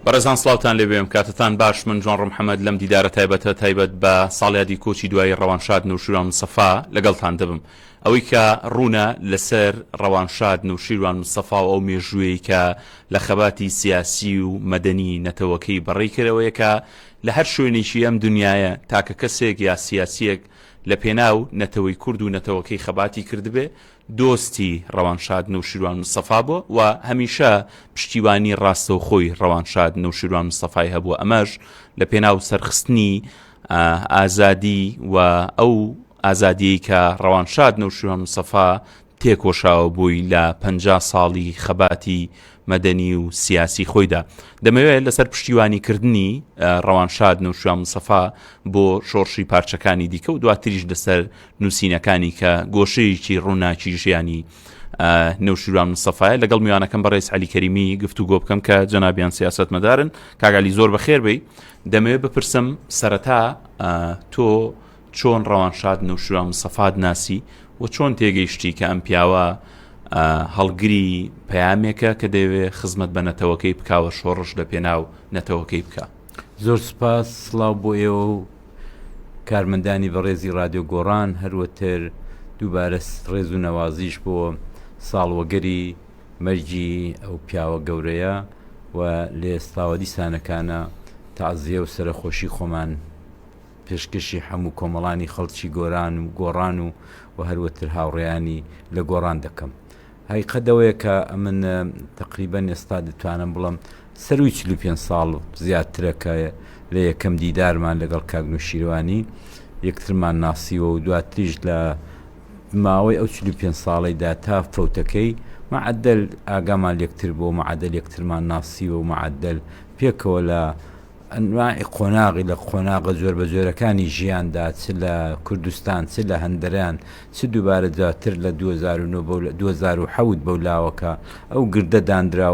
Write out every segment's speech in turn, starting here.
بەڕێزان سلااوان لێ بێم کاتتان باش من جوان ڕمحەمەد لەم دیدارە تایبەتە تایبەت بە ساڵیادی کۆچی دوایی ڕەوانشاد نوشیروان مسەفا لەگەڵتان دەبم ئەوەی کە ڕوونە لەسەر ڕەوانشاد نوشیروان مسەفا و ئەو مێژووی کە لە خەباتی سیاسی و مەدەنی نەتەوەکەی بەڕێکەرەوەیەکە لە هەر شوێنێکی ئەم دنیاە تاکە کەسێک یا سیاسیەک لە پێناو نەتەوەی کورد و نەتەوەکەی خەباتی کردبێ، دۆستی ڕەوانشاد نەوشیروان مستەفا بوە و هەمیشە پشتیوانی ڕاستەوخۆی ڕەوانشاد نەوشیروان مستەفای هەبوە ئەمەش لە پێناو سەرخستنی ئازادی و ئەو ئازادیەی کە ڕەوانشاد نەوشیروان مستەفا تێکۆشاوبووی لە پەنجا ساڵی خەباتی مەدەنی و سیاسی خۆیدا. دەمەوێت لەسەر پشتیوانیکردنی ڕەوانشاد نەوشیروان مستەفا بۆ شۆڕشی پارچەکانی دیکە و دواتریش لەسەر نووسینەکانی کە گۆشەیەکی ڕووناکی ژیانی نەوشیروان مستەفایە لەگەڵ میوانەکەم بەڕێز عەلی کەریمی گفتوگۆ بکەم کە جەنابیان سیاسەتمەدارن کاک عەلی زۆر بەخێربێی دەمەوێت بپرسم سەرەتا تۆ چۆن ڕەوانشاد نەوشیروان مستەفات ناسی و چۆن تێگەیشتی کە ئەم پیاوە هەڵگری پەیامێکە کە دەوێ خزمەت بە نەتەوەکەی بکوە شۆڕش لە پێناو نەتەوەکەی بکە زۆر سپاس سلااو بۆ ئێوە و کارمەندانی بەڕێزی رادیۆ گۆڕان هەروەتر دووبارە ڕێز و نەوازیش بۆ ساڵوەگەری مەرجی ئەو پیاوە گەورەیە و لە ئێستاوە دیسانەکانە تازیە و سەرخۆشی خۆمان پێشکەشی حەموو کۆمەڵانی خەڵکی گۆران و گۆڕان و و هەروەتر هاوڕێیانی لە گۆڕان دەکەم. هەیقەت ئەوەیە کە ئەمن تەقریبەن ئێستا دەتوانم بڵێم سەرووی چل و پێنج ساڵ زیاترە کە لە یەکەم دیدارمان لەگەڵ کاک نوشیروانی یەکترمان ناسیوە و دواتریش لە ماوەی ئەو چل و پێنج ساڵەیدا تا فەوتەکەی مەعەدەل ئاگامان لە یەکتر بووە، مەعەدەل یەکترمان ناسیوە و مەعەدەل پێکەوە لە ئەنواعی قۆناغی لە قۆناغە جۆربەجۆرەکانی ژیاندا، چ لە کوردستان، چ لە هەندەران، چ دووبارە دواتر لە دوو هەزار و نۆ بەو دوو هەزار و حەوت بەو لاوەکە ئەو گردە داندرا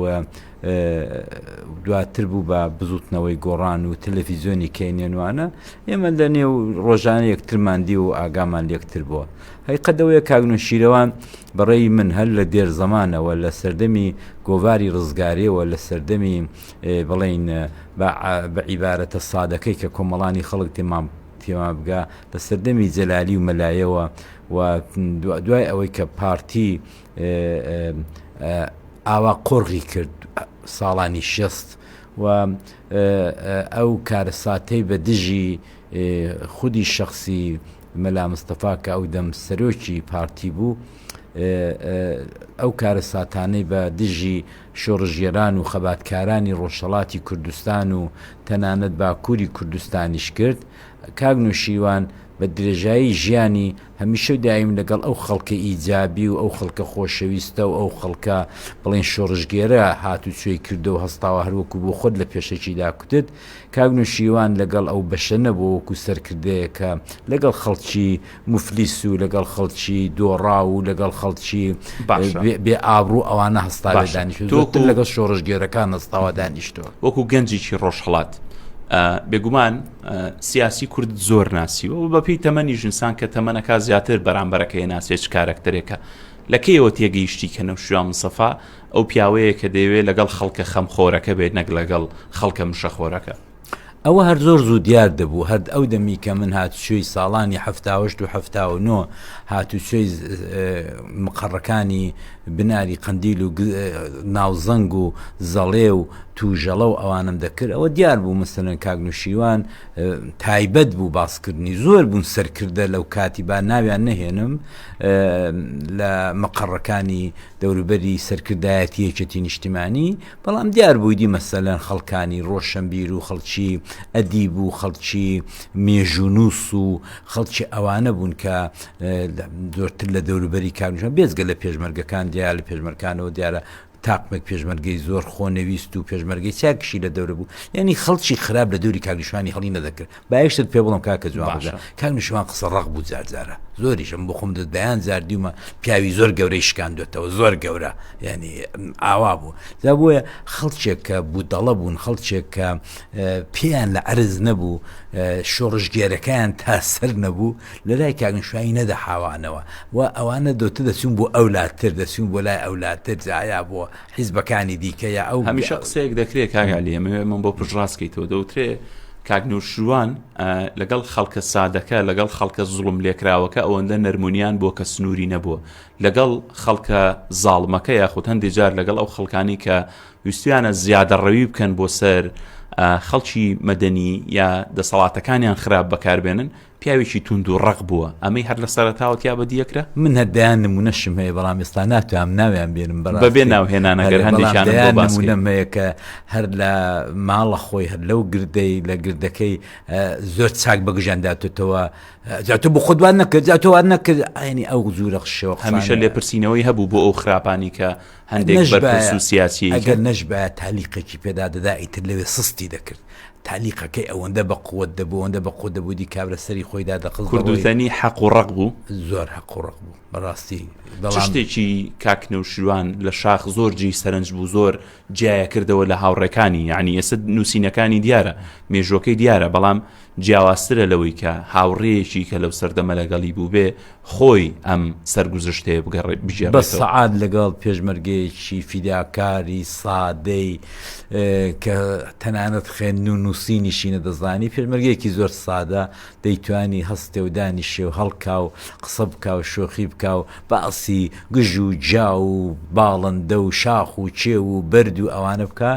و دواتر بوو بە بزووتنەوەی گۆڕان و تەلەفیزیۆنی کەینێنوانە، ئێمە لە نێو ڕۆژانە یەکترمان دی و ئاگامان لێکتر بووە. هەقیقەت ئەوەیە کاک نوشیروان بە ڕێی من هەر لە دێرزەمانەوە، لە سەردەمی گۆڤاری ڕزگاریەوە، لە سەردەمی، بڵێین بە عیبارەتە سادەکەی کە کۆمەڵانی خەڵک تێمان تێما بگا لە سەردەمی جەلالی و مەلایەوە و دوای ئەوەی کە پارتی ئاوا قۆڕغی کرد ساڵانی شست و ئەو کارەساتەی بە دژی خودی شخصی مەلا مستەفا کە ئەو دەم سەرۆکی پارتی بوو ئەو کارە ساتانەی بە دژی شۆڕشگێران و خەباتکارانی ڕۆژهەڵاتی کوردستان و تەنانەت باکووری کوردستانیش کرد، کاک نوشیروان بە درێژایی ژیانی هەمیشە و دایم لەگەڵ ئەو خەڵکە ئیجابی و ئەو خەڵکە خۆشەویستە و ئەو خەڵکە بڵێین شۆڕشگێرە هاتوچۆی کردو و هەستاوە هەر وەکو بۆ خۆت لە پێشەکیدا کوتت کاک نوشیروان لەگەڵ ئەو بەشە نەبووە وەکو سەرکردەیەکە لەگەڵ خەڵکی موفلیس و لەگەڵ خەڵکی دۆڕاو و لەگەڵ خەڵکی بێ ئابڕوو ئەوانە هەستاوە دانیش تۆکن لەگەڵ شۆڕشگێرەکان هەستاوە دانیشتەوە وەکو گەنجێکی ڕۆژهڵات بێگومان سیاسی کورد زۆر ناسیوە و بەپی تەمەنی ژنسان کە تەمەنەکە زیاتر بەرامبەرەکە هێ ناسێت کارەکتەرێکە لە کەیەوە تێگەیشتی کە نەوشیا مسەفا ئەو پیاوەیە کە دەیەوێت لەگەڵ خەڵکە خەمخۆرەکە بێت نەک لەگەڵ خەڵکە مشەخۆرەکە ئەوە هەر زۆر زوو دیار دەبوو، هەرد ئەو دەمی کە من هاتوچۆی ساڵانی حەفتاوەشت و حەفتاو نۆ هاتوچۆی مقەڕەکانی بناری قەندیل و ناوزەنگ و زەڵێ و توژەڵە و ئەوانەم دەکرد ئەوە دیار بوو مەسەلەن کاک نوشیروان تایبەت بوو باسکردنی زۆر بوون سەرکردە لەو کاتی با ناویان نەهێنم لە مقەڕەکانی دەوروبەری سەرکردایەتی یەکێتی نیشتیمانی بەڵام دیار بوویدی مەسەلەن خەڵکانی ڕۆشەنبیر و خەڵکی ئەدیب و خەڵکی مێژوونووس و خەڵکی ئەوانە بوون کە زۆرتر لە دەوروبەری کاکژمێر بێجگە لە پێشمەرگەکان دیار لە پێشمەرکانەوە دیارە تاقمێک پێشمەرگەی زۆر خۆنەویست و پێشمەرگەی چاکیشی لە دەورە بوو یعنی خەڵکی خراپ لە دەوری کاکژمێری هەڵی نەدەکرد با یەک شتت پێ بڵێم کاکە جوان ڕەجا، باشە. کاک نیشتمان قسە ڕەق بوو جار جارە زۆریش من بۆ خۆم دە دەیان جار دیومە پیاوی زۆر گەورەی شکاندوێتەوە زۆر گەورە یعنی م، ئاوا بوو جا بۆیە خەڵکێک کە بودەڵە بوون خەڵکێک کە ئە، پێیان لە عەرز نەبوو ئە، شۆڕشگێرەکەیان تا سەر نەبوو لە لای کاک نیشتمانی نەدەحاوانەوە و ئەوانە دەوتە دەچوون بۆ ئەو لاتر دەچوون بۆ لای ئەو لاتر جا یا بۆ حیزبەکانی دیکە یا ئەو. هەمیشە قسەیەک دەکرێ کاک عەلی ئەمەوێ ئەمەم بۆ پشتڕاست کەیتەوە دەوترێ کاک نەوشیروان لەگەڵ خەڵکە سادەکە لەگەڵ خەڵکە زوڵم لێکراوەکە ئەوەندە نەرمونیان بوە کە سنوری نەبوە لەگەڵ خەڵکە زاڵمەکە یاخود هەندێ جار لەگەڵ ئەو خەڵکانی کە ویستویانە زیادە ڕەوی بکەن بۆ سەر خەڵکی مەدەنی یا دەسەڵاتەکانیان خراپ بەکاربێنن پیاوێکی توند و ڕەق بووە ئەمەی هەر لە سەرەتاوە تیا بەدی ئەکرا. من هەر دەیان نموونەشم هەیە بەڵام ئێستا ناتوانم ناویان بێنم بەڕاستی بەبێ ناو هێنان ئەگەر بەڵام هەندێکیانم بۆ دەیان باس کەی. نموونەم هەیە کە هەر لە ماڵە خۆی هەر لەو گردەی لە گردەکەی ئە، زۆر چاک بە گژیان داتۆتەوە ئە، جا تۆ بۆ خۆت وات نەکرد جا تۆ وات نەکرد ئەیانی ئەو جوورە شێوە قسانە. هەمیشە لێپرسینەوەی هەبوو بۆ ئەو خراپانەی کە هەندێک بەرپرس و سیاسی ئەگەر نەشبایە تالیقێکی پێدا دەدا ئیتر لەوێ سستی دەکرد تالیقەکەی ئەوەندە بە قوت دەبوو ئەوەندە بە قوت دەبوو دی کابرە سەری خۆیدا دەقز کوردستانی حەق و ڕق بوو زۆر حەق و ڕق بوو بەڕاستی شتێکی کاکنە و شوان لە شاخ زۆر جی سەرنج بوو زۆر جیایە کردەوە لە هاوڕێکانی یعنی ئێستا نووسینەکانی دیارە مێژۆکەی دیارە بەڵام جیاوازترە لەوەی کە هاوڕێیەکی کە لەو سەردەمە لەگەڵی بوو بێ خۆی ئەم سەرگوزشتەیە بگێڕێتەوە. سەعات لەگەڵ پێشمەرگەیەکی فیداکاری سادەی کە تەنانەت خوێندن و نووسینیشی نەدەزانی، پێشمەرگەیەکی زۆر سادە دەیتوانی هەستێ و دانیشێ و هەڵکا و قسە بکا و شۆخی بکا و باسی گژ و گیا و باڵندە و شاخ و کێو و بەرد و ئەوانە بکا،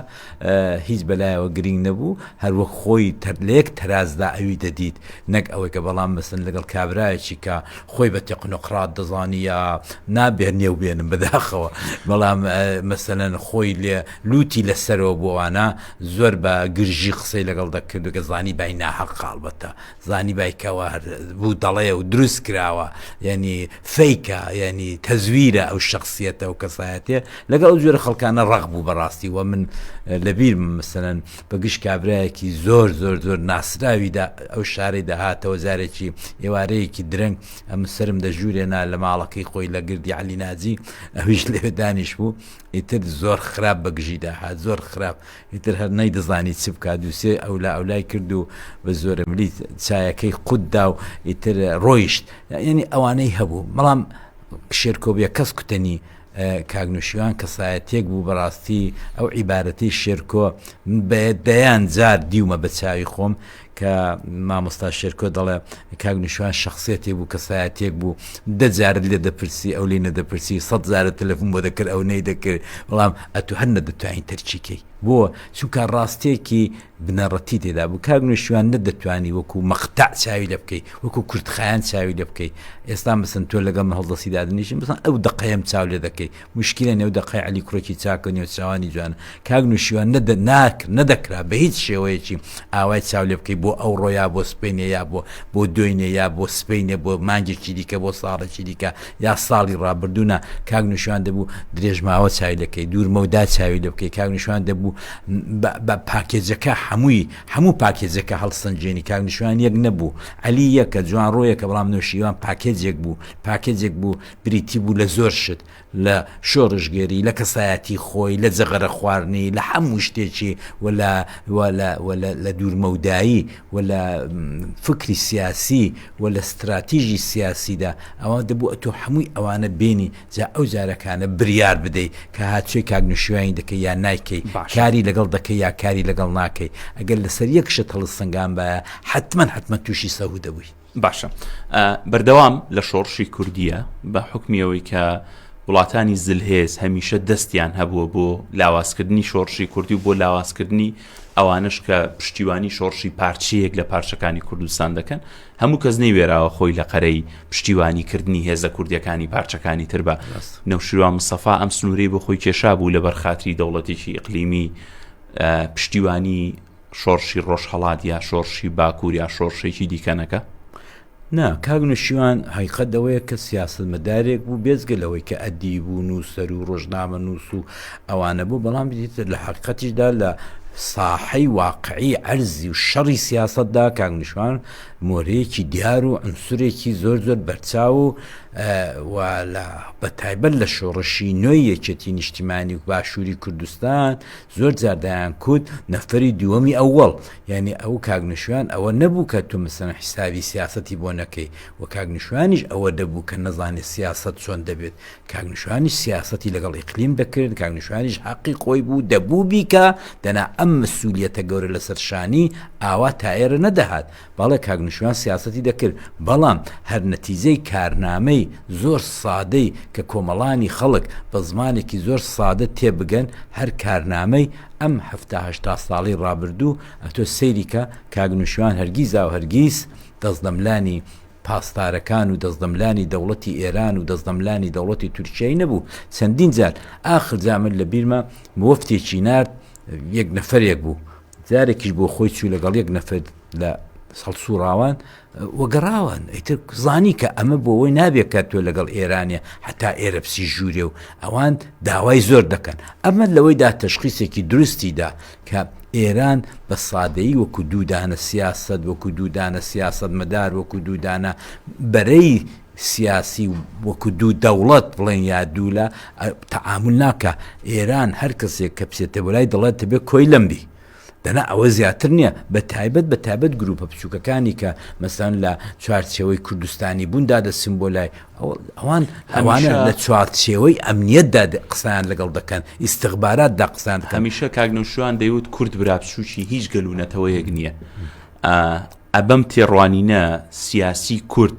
هیچ بەلایەوە گرینگ نەبوو، هەر وەک خۆی تەر لە یەک تەرازدا ئەوی دەدیت، نەک ئەوەی کە بەڵام مەسەن لەگەڵ کابرایەکی کە خۆی بە تێقنۆقڕات دەزانی یا نا بێنێو بێنم بەداخەوە بەڵام مەسەلەن خۆی لێ لووتی لە سەرەوە بۆ وانە زۆر بە گرژی قسەی لەگەڵ دەکرد و گەزانی بای ناهەقە ئەڵبەتە زانیبای کەوا هەر بوو دەڵێ و دروست کراوە یعنی فەیکە یعنی تەزویرە ئەو شخصیەتە و کەسایەتێ لەگەڵ ئەو جۆرە خەڵکانە ڕق بوو بەڕاستی وە من لەبیر مەسەن بە گشت کابراایەکی زۆر زۆر زۆر ناسراویدا ئەو شارەی داهاتەوە جارێکی ئێوارەیەکی درەنگ ئەم سرم دەژورێنا لە ماڵەکەی خۆی لە گردی علی ناجی ئەویش لەوێ دانیش بوو ئیتر زۆر خراپ بەگژیدا هات زۆر خراپ ئیتر هەر نەیدەزانی چ بکا، دووسێ ئەولا ئەولای کرد و بە زۆرەملی چایەکەی قوت دا و ئیتر ڕۆیشت. یانی ئەوانەی هەبوو. بەڵام شێرکۆ بێکەس کوتەنی کاک نوشیروان کەسایەتیەک بوو بەڕاستی ئەو عیبارەتەی شێرکۆ من بە دەیان جار دیومە بە چاوی خۆم کە مامۆستا شێرکۆ دەڵێ کاک نوشیروان شخصیەتێ بوو کەسایەتێک بوو دە جارت لێ دەپرسی ئەو لێ نەدەپرسی سەد جارە تەلەفون بۆ دەکرد ئەو نەی دەکرد بەڵام ئەتو هەر نەدەتوانین تەرکیکەی بۆ چونکە ڕاستێکی بنەڕەتی تێدا بوو کاک نوشیوان نەدەتوانی وەکو مەختە چاوی لە بکەی وەکو کورتخایەن چاوی لە بکەی ئێستا مەسن تۆ لەگەڵ هەڵدەستی دادنیشم بسان ئەو دقەیەم چاو لێ دەکەی موشکیلە نێو دەقەی عەلی کوڕێکی چاک و نێوچاوانی جوانە کاک نوشیروان نە دە ناکر نە دەکرا بە هیچ شێوەیەکی ئاوای چاو لێ بکەی بۆ ئەوڕۆ یا بۆ سبەینێ یا بۆ بۆ دوینێ یا بۆ سبەینێ بۆ مانگێکی دیکە بۆ ساڵێکی دیکە یا ساڵی ڕابردوو نا کاک نوشیروان دەبوو درێژماوە چاوی لێ بکەی دوور مەودا چاوی لێ بکەی کاک نوشیروان دەبوو بە بە پاکێجەکە حەمووی حەموو پاکێجەکە هەڵسەنگێنی کاک نوشیروان یەک نەبوو عەلی یەکە جوانڕۆیەکە بەڵام نوشیروان پاکێجێک بوو پاکێجێک بوو بریتی بوو لە زۆر شت، لە شۆڕشگێری، لە کەسایەتی خۆی، لە جەغەرە خواردنی، لە حەموو شتێکی و لە و لە و لە لە دوورمەودایی و لە فکری سیاسی و لە ستراتیژی سیاسیدا، ئەوا دەبوو ئەتۆ حەمووی ئەوانە بێنی جا ئەو جارەکانە بریار بدەی کە ها چێ کاک نوشیوانی دەکەی یا نایکەی، کاری لەگەڵ دەکەی یا کاری لەگەڵ ناکەی، ئەگەر لەسەر یەک شت هەڵسەنگانبایە حەتمەن حەتمەن تووشی سەهوو دەبووی. باشە بەردەوام لە شۆڕشی کوردیە بە حکمی ئەوەی کە وڵاتانی زلهێز هەمیشە دەستیان هەبووە بۆ لاوازکردنی شۆڕشی کوردی و بۆ لاوازکردنی ئەوانش کە پشتیوانی شۆڕشی پارچەیەک لە پارچەکانی کوردستان دەکەن هەموو کەس نەی وێراوە خۆی لە قەرەی پشتیوانی کردنی هێزە کوردیەکانی پارچەکانی تر بە نەوشیروان مسەفا ئەم سنووری بۆ خۆی کێشا بوو لە بەرخاتری دەوڵەتێکی ئەقلیمی پشتیوانی شۆڕشی ڕۆژهەڵات یا شۆڕشی باکوور یا شۆڕشێکی دیکە نەکا؟ نا، کاک نەوشیروان هەقیقەت ئەوەیە کە سیاسەتمەدارێک بوو بێجگە لەوەی کە ئەدیب و نووسەر و ڕۆژنامەنووس و ئەوانە بوو بەڵام دیتر لە حەقیقەتیشدا لە ساحەی واقعی عەرزی و شەڕی سیاسەتدا کاک نەوشیروان مۆرەیەکی دیار و عونسورێکی زۆر زۆر بەرچاو و و لە بەتایبەت لە شۆڕشی نوێی یەکێتیی نیشتیمانیی باشووری کوردستان زۆر جار دەیان کوت نەفەری دووەمی ئەوەڵ یانی ئەو کاک نشوان ئەوە نەبوو کە تۆ مەسەلەن حیسابی سیاسەتی بۆ نەکەی و کاک نشوانیش ئەوە دەبوو کە نەزانێ سیاسەت چۆن دەبێت کاک نشوانیش سیاسەتی لەگەڵ ئیقلیم دەکرد کاک نشوانیش حەقی خۆی بوو دەبوو بیکا دەنا ئەم مسولیەتە گەورە لەسەر شانی ئاوا تایەرە نەدەهات بەڵێ کاک نوشیروان سیاسەتی دەکرد بەڵام هەر نەتیجەی کارنامەی زۆر سادەی کە کۆمەڵانی خەڵک بە زمانێکی زۆر سادە تێبگەن هەر کارنامەی ئەم حەفتا هەشتا ساڵەی ڕابردوو ئەتۆ سەیری کە کاک نوشیروان هەرگیزاو هەرگیز دەستدەملانی پاسدارەکان و دەستدەملانی دەوڵەتی ئێران و دەستدەملانی دەوڵەتی تورکیای نەبوو چەندین جار ئاخر جا من لە بیرمە موەفتێکی نارد یەک نەفەرێک بوو جارێکیش بۆ خۆی چوو لەگەڵ یەک نەفەر لە هەڵسووڕاوان و گەڕاوان ئیتر زانی کە ئەمە بۆ ئەوەی نابێت کە تۆ لەگەڵ ئێرانێ حتا ئێرە بچی ژوورێ و ئەوان داوای زۆر دەکەن ئەمە لەوەیدا تەشخیسێکی دروستی دا کە ئێران بە سادەیی وەکو دوو دانە سیاسەت وەکو دوو دانە سیاسەتمەدار وەکو دوو دانە بەرەی سیاسی وەکو دوو دەوڵەت بڵێن یا دوو لا تەعامول ناکا ئێران هەر کەسێک کە بچێتە بۆ لای دەڵێت تەبێ کۆیلەم بی دەنا ئەوە زیاتر نییە بە تایبەت بە تایبەت گروپە بچووکەکانی کە مەسەن لە چوارچێوەی کوردستانی بوون دادەچن بۆ لای ئەوان ئەوانە لە چوارچێوەی ئەمنیەتدا قسەیان لەگەڵ دەکەن ئیستغبارات دا قسان هەمیشە کاگنەوشوان دەیوت کورد برا بچووکی هیچ گەل و نەتەوەیەک نییە ئە بەم تێڕوانینە سیاسی کورد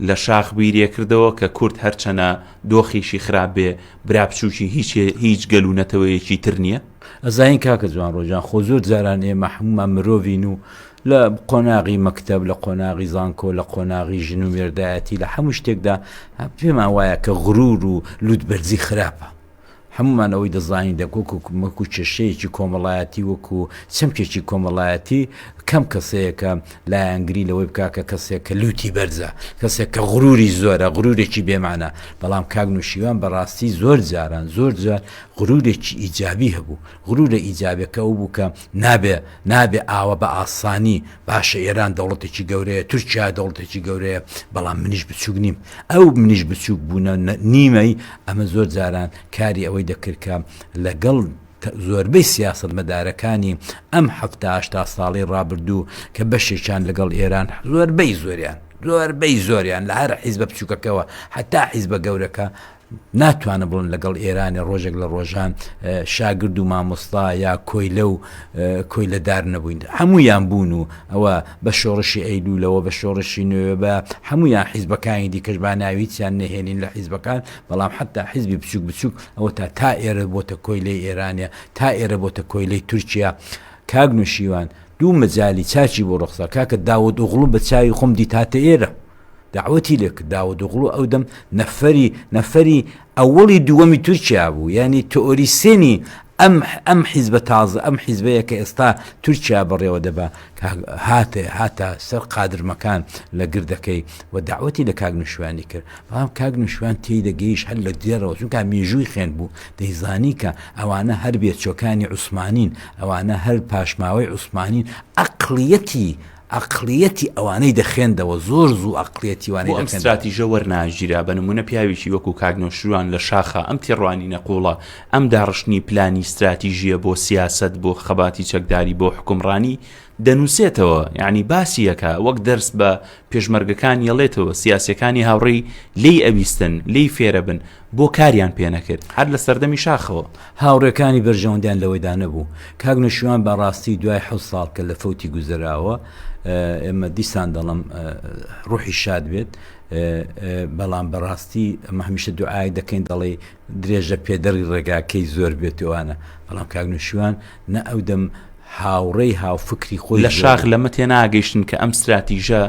لە شاخ بیرێ کردەوە کە کورد هەرچەنە دۆخیشی خراپ بێ برا بچوکی هیچ هیچ گەل و نەتەوەیەکی تر نیە. ئەزانین کاکە جوان ڕۆژان خۆ زۆر جاران ئێمە حمومان مرۆڤین و لە قۆناغی مەکتب لە قۆناغی زانکۆ لە قۆناغی ژن و مێردایەتی لە حەموو شتێکدا پێمان وایە کە غرور و لوتبەرزی خراپە هەموومان ئەوەی دەزانین دەکۆک و وەکو کێشەیەکی کۆمەڵایەتی وەکو چەمکێکی کۆمەڵایەتی کەم کەسەیەکە لایەنگری لەوەی بکا کە کەسێک کە لوتی بەرزە کەسێک کە غروری زۆرە غرورێکی بێمانە بەڵام کاک نوشیوان بەڕاستی زۆر جاران زۆر جار غرورێکی ئیجابی هەبوو غرورە ئیجابەکە ئەو بوو کە نابێ نابێ ئاوە بە ئاسانی باشە ئێران دەوڵەتێکی گەورەیە تورکیا دەوڵەتێکی گەورەیە بەڵام منیش بچووک نیم ئەو منیش بچووک بوونە نیمەی ئەمە زۆر جاران کاری ئەوەی دەکردکە لەگەڵ زۆربەی سیاست مەدارەکانی ئەم هەفتاشتا ساڵی ڕابردوو کە بەشێکیان لەگەڵ ئێران زۆربەی زۆریان زۆربەی زۆریان لە هەر حیزبە بچووکەکەەوە حتا حیزبە گەورەکە ناتوانن بڵن لەگەڵ ئێرانێ ڕۆژێک لە ڕۆژان شاگرد و مامۆستا یا کۆیلە و کۆیلە دار نەبووین هەموویان بوون و ئەوە بە شۆڕشی ئەیلوولەوە بە شۆڕشی نوێ بە هەمویان حیزبەکانی دیکەش با ناویچیان نەهێنین لە حیزبەکان بەڵام حتا حیزبی بچوک بچوک ئەوە تا تا ئێرە بۆتە کۆیلەی ئێرانە تا ئێرە بۆتە کۆیلەی تورکیا کاک نوشیوان دوو مەجای چاچی بۆ ڕخسا کاکە داود ئوغڵو بە چاوی خۆم دیتاتە ئێرە دەعوەتی لێ کرد، داوودئۆغڵو ئەو دەم نەفەری نەفەری ئەوەڵی دووەمی تورکیا بوو، یانی تئۆریسێنی ئەم ئەم حیزبە تازە ئەم حیزبەیە کە ئێستا تورکیا بەڕێوە دەبا کە هات هاتە سەر قادرمەکان لە گردەکەی و دەعوەتی لە کاک نوشیروانی کرد، بەڵام کاک نوشیروان تێی دەگەیشت هەر لە دێڕەوە چونکا مێژووی خوێند بوو دەیزانی کە ئەوانە هەر بێچوەکانی عوسمانین ئەوانە هەر پاشماوەی عوسمانین ئەقڵیەتی ئەقڵیەتی ئەوانەی دەخێندەوە زۆر زوو ئەقڵیەتی وانەی ئەم ستراتیژە وەرناگیرا بە نمونە پیاوێکی وەکو کاک نەوشیروان لە شاخە ئەم تێڕوانینە قوڵە ئەم داڕشتنی پلانی ستراتیژیە بۆ سیاسەت بۆ خەباتی چەکداری بۆ حکومڕانی دەنووسێتەوە یعنی باسیەکە وەک دەرس بە پێشمەرگەکان یەڵێتەوە سیاسەکانی هاوڕێی لی ئەویستن لی فێرەبن بۆ کاریان پێ نەکرد هەر لە سەردەمی شاخەوە. هاوڕێکانی بەرژەوەندیان لەوەیدا نەبوو. کاک نەوشیروان بە ڕاستی دوای حەوت ساڵ کە لە فەوتی گوزەراوە ئێمە دیسان دەڵێم ڕوحی شاد بێت بەڵام بە ڕاستی ئەمە هەمیشە دوعای دەکەین دەڵێ درێژە پێدەڕی ڕێگاکەی زۆر بێتوانە بەڵام کاک نوشیوان نە ئەو دەم هاوڕێی هاوفکری خۆی لە شاخ لەمە تێناگەیشتن کە ئەم ستراتیژە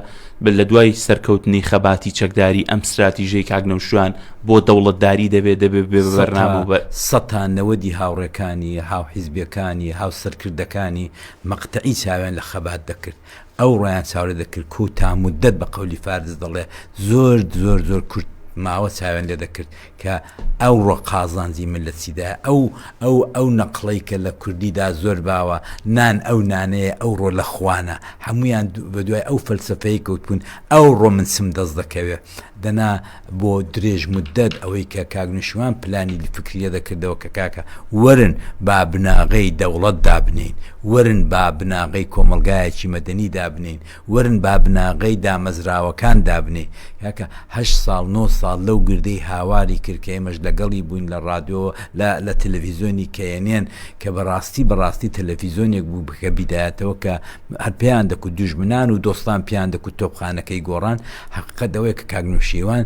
بە لە دوای سەرکەوتنی خەباتی چەکداری ئەم ستراتیژەی کاگنەوشوان بۆ دەوڵەتداری دەبێت دەبێت بێبەرنامە بە سەتا نەوەدی هاوڕێکانی هاوحیزبەکانی هاوسەرکردەکانی مەقتەعی چاویان لە خەبات دەکرد ئەو ڕۆیان چاوەرێ دەکرد کۆ تا موددەت بە قەولی فارس دەڵێ زۆر زۆر زۆر کورت ماوە چاوێن لێ دەکرد کە ئەو ڕۆ قازانجی من لە چیدا ئەو ئەو ئەو نەقڵەی کە لە کوردیدا زۆر باوە نان ئەو نانەیە ئەو ڕۆ لە خوانە هەمویان بە دوای ئەو فەلسفەیە کەوتبوون ئەو ڕۆ من چم دەست دەکەوێ دەنا بۆ درێژ مدەت ئەوەی کە کاک نوشیروان پلانی فکری لێ دەکردەوە کە کاکە وەرن با بناغەی دەوڵەت دابنێین، وەرن با بناغەی کۆمەڵگایەکی مەدەنی دابنێین، وەرن با بناغەی دامەزراوەکان دابنێین. کاکە هەشت ساڵ نۆ ساڵ لەو گردەی هاواری کرد کە ئێمەش لەگەڵی بووین لە ڕادیۆ و لە تەلەفیزیۆنی کەیەنێن کە بەڕاستی بەڕاستی تەلەفیزیۆنێک بوو کە بیدایەتەوە کە هەر پێیان دەکوت دوژمنان و دۆستان پێیان دەکوت تۆپخانەکەی گۆڕان، حەقیقەت ئەوەیە کە کاک نەوشیروان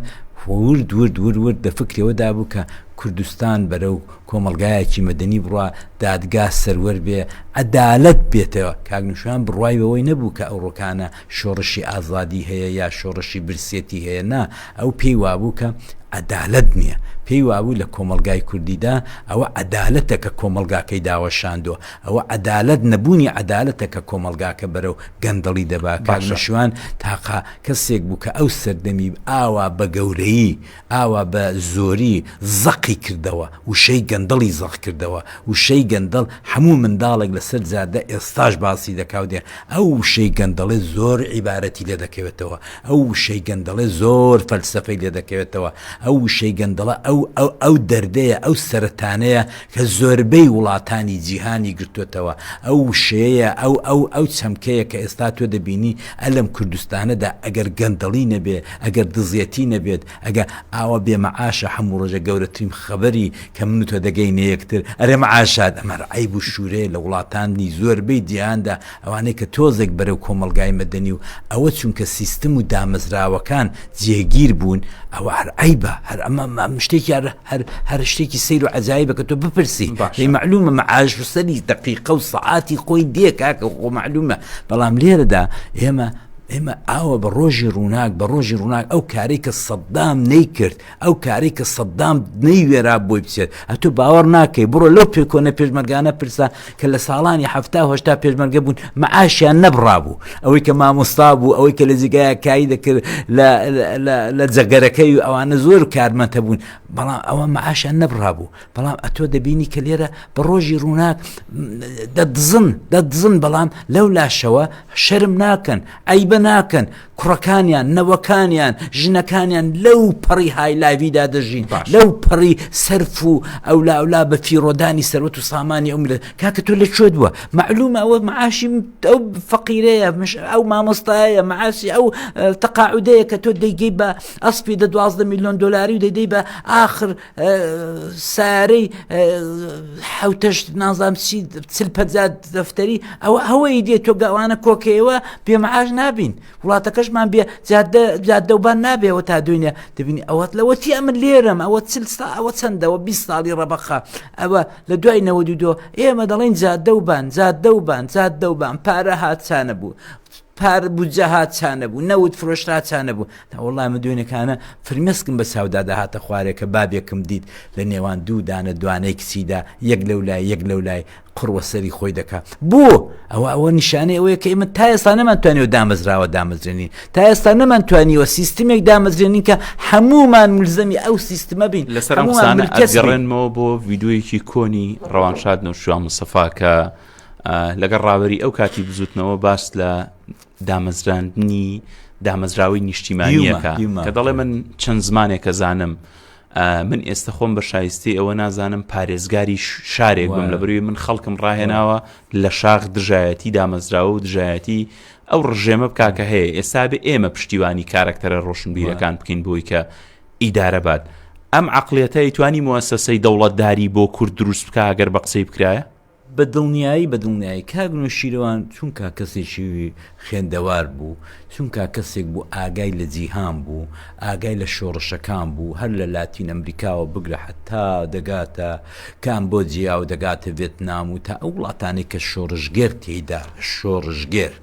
ورد ورد ورد ورد لە فکری ئەوە دابوو کە کوردستان بەرەو کۆمەڵگایەکی مەدەنی بڕوا، دادگا سەروەر بێ، عەدالەت بێتە، کاک نەوشیروان بڕوای بەوەی نەبوو کە ئەوڕۆکانە شۆڕشی ئازادی هەیە یا شۆڕشی برسێتی هەیە، نا، ئەو پێی وابوو کە عەدالەت نیە، پێی وابوو لە کۆمەڵگای کوردیدا ئەوە عەدالەتە کە کۆمەڵگاکەی داوەشاندوە، ئەوە عەدالەت نەبوونی عەدالەتە کە کۆمەڵگاکە بەرەو گەندەڵی دەبا کاک مەشوان تاقە کەسێک بوو کە ئەو سەردەمی ئاوا بە گەورەیی ئاوا بە زۆری زەقی کردەوە وشەی گەندەڵی زەق کردەوە وشەی گەندەڵ هەموو منداڵێک لەسەر جادە ئێستاش باسی دەکاو دێ ئەو وشەی گەندەڵێ زۆر عیبارەتی لێ دەکەوێتەوە ئەو وشەی گەندەڵێ زۆر فەلسەفەی لێ دەکەوێتەوە، ئەو وشەی گەندەڵە ئەو ئەو دەردەیە، ئەو سەرەتانەیە کە زۆربەی وڵاتانی جیهانی گرتۆتەوە، ئەو وشەیەیە، ئەو ئەو ئەو چەمکەیە کە ئێستا تۆ دەبینی ئە لەم کوردستانەدا ئەگەر گەندەڵی نەبێ، ئەگەر دزیەتی نەبێت، ئەگە ئاوا بێ مەعاشە، هەموو ڕۆژێک گەورەترین خەبەری کە من و تۆ دەگەینە یەکتر ئەرێ مەعاشات، ئەمە عەیب و شوورەیە لە وڵاتانی زۆربەی جیهاندا، ئەوانەی کە تۆزێک بەرەو کۆمەڵگای مەدەنی و ئەوە چونکە سیستم و دامەزراوەکان جێگیر بوون ئەوە هەر عەیبە هەر ئەمە ئەم شتێکی هەر هەر هەر شتێکی سەیر و عەجایبە کە تۆ بپرسی باشە. مەعلومە مەعاش و سەری دەقیقە و سەعاتی خۆی دێ کاکە خۆ مەعلومە بەڵام لێرەدا ئێمە ئێمە ئاوە بە ڕۆژی ڕووناک بە ڕۆژی ڕووناک ئەو کارەی کە سەدام نەیکرد ئەو کارەی کە سەدام نەیوێرا بۆی بچێت ئەتو باوەڕ ناکەی بڕۆ لەو پێکۆنە پێشمەرگانە پرسە کە لە ساڵانی هەفتا هشتا پێشمەرگە بوون مەعاشیان نەبڕابوو ئەوەی کە مامۆستا بوو ئەوەی کە لە جگایە کاری دەکرد لە جەگەرەکەی و ئەوانە زۆر کارمەتە بوون بەڵام ئەوە مەعاشیان نەبڕابوو بەڵام ئەتۆ دەبینی کە لێرە بە ڕۆژی ڕووناک دەدزن دەدزن بەڵام لەو لاشەوە شەرم ناکەن ئەیبە ناکەن کوڕەکانیان، نەوەکانیان، ژنەکانیان لەو پەڕی هایلایڤیدا دەژین باش لەو پەڕی سەرف و ئەولاولا بە فیڕۆدانی سەروەت و سامانی ئەو ملت کاکە تۆ لە کوێ دووە معلومە ئەوە معاشی ئەو فەقیرەیە مش ئەو مامۆستایە معاسی ئەو تەقاعودەیە کە تۆ دەیگەی بە ئەسپی دە دوازدە میلیۆن دلاری و دەدەی بە آخر سارەی حوتەشت نازام چی چل پەجات دەفتەری ئەوە ئەوەی دێت تۆ گەوانە کۆکەیەوە پێمەعاش نابین وڵاتەکەشمان بێ جادە جادەوبان نابێەوە تا دوێنێ دەبینی ئەوەت لەوە چی ئەمن لێرەم ئەوە چل ستا ئەوە چەندەوە 20 ساڵی ڕەبەخە ئەوە لە دوای نەوەدو دۆ ئێمە دەڵێن جادەوبان جادەوبان جادەوبان پارە هاچانە بوو پار بودجە ها چانە بوو نەوت فرۆشت ها چانە بوو تا وڵای من دوێنێکانە فرمێسکم بە ساودا داهاتە خوارێکە بابێکم دیت لە نێوان دوو دانە دوانەی کچیدا یەک لەو لای یەک لەو لای قڕوە سەری خۆی دەکات بۆ ئەوە ئەوە نیشانەی ئەوەیە کە ئمە تا ئێستا نەمانتوانانی و دامەزراوە دامەزرێنین تا ئێستا نەمانتوانیوە سیستمێک دامەزرێنین کە هەمومان ملزەمی ئەو سیستمە بین لەسەرڕێنەوە بۆ یددیویەکی کۆنی ڕەوانشاد نەوشوان مسەفاکە لەگەڵ ڕاوەری ئەو کاتی بزوتنەوە باس لە دامەزراندنی دامەزراوەی نیشتیمانیەکە کە دەڵێ من چەند زمانێکە زانم من ئێستا خۆم بە شایستی ئەوە نازانم پارێزگاری شارێک بم لە بروی من خەڵکم ڕاهێناوە لە شاخ دژایەتی دامەزراوە و دژایەتی ئەو ڕژێمە بکاکە هەیە ئێستا بێ ئێمە پشتیوانی کارکتەرە ڕۆشنبیرەکان بکەین بۆی کە ئیدارە بات ئەم عقلەتە ئیتوانی موسەسەی دەوڵەتداری بۆ کورد دروست بکە گەر بە قسەی بکرایە بە دڵنیایی بە دڵنیایی کاک نۆشیروان چونکا کەسێکی خوێندەوار بوو چونکا کەسێک بوو ئاگای لە جیهان بوو ئاگای لە شۆڕشەکان بوو هەر لە لاتین ئەمریکاوە بگرە حەتا دەگاتە کامبۆجیا و دەگاتە ڤێتنام و تا ئەو وڵاتانەی کە شۆڕشگێر تێیدا شۆڕشگێر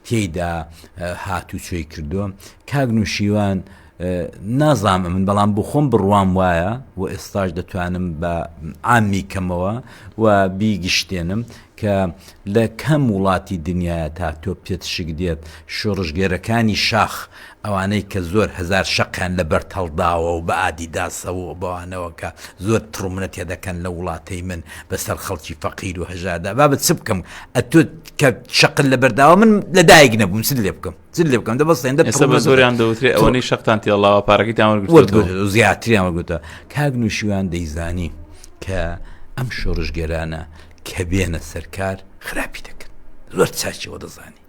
تێیدا هاتوچۆی کردووە کاک نوشیروان نازانم من بەڵام بۆ خۆم بڕوام وایە و ئێستاش دەتوانم بە ئامی کەمەوە و بیگشتێنم کە لە کەم وڵاتی دنیاە تا تۆ پێت شک دێت شۆڕژگێرەکانی شاخ ئەوانەی کە زۆر هزار شەقیان لە بەر تەڵداوە و بە ئادیداسەوە و بەوانەوە کە زۆر تڕمنە تێ دەکەن لە وڵاتەی من بەسەر خەڵکی فەقیر و هەژادا بابەت چ بکەم ئەتۆ کە شەقل لە بەرداوە من لە دایک نەبووم سل لێ بکەم چ لێ بکەم دە بەستێن دە ئێستا بە زۆریان دەوترێ ئەوەی شەقتان تێڵاوە پارەکەی تاوەرگرت زیاتریان وەگوتە کاک نوشیوان دەیزانی کە ئەم شۆڕژگەرانە کە بێنە سەرکار خراپی دەکەن زۆر چاچەوە دەزانی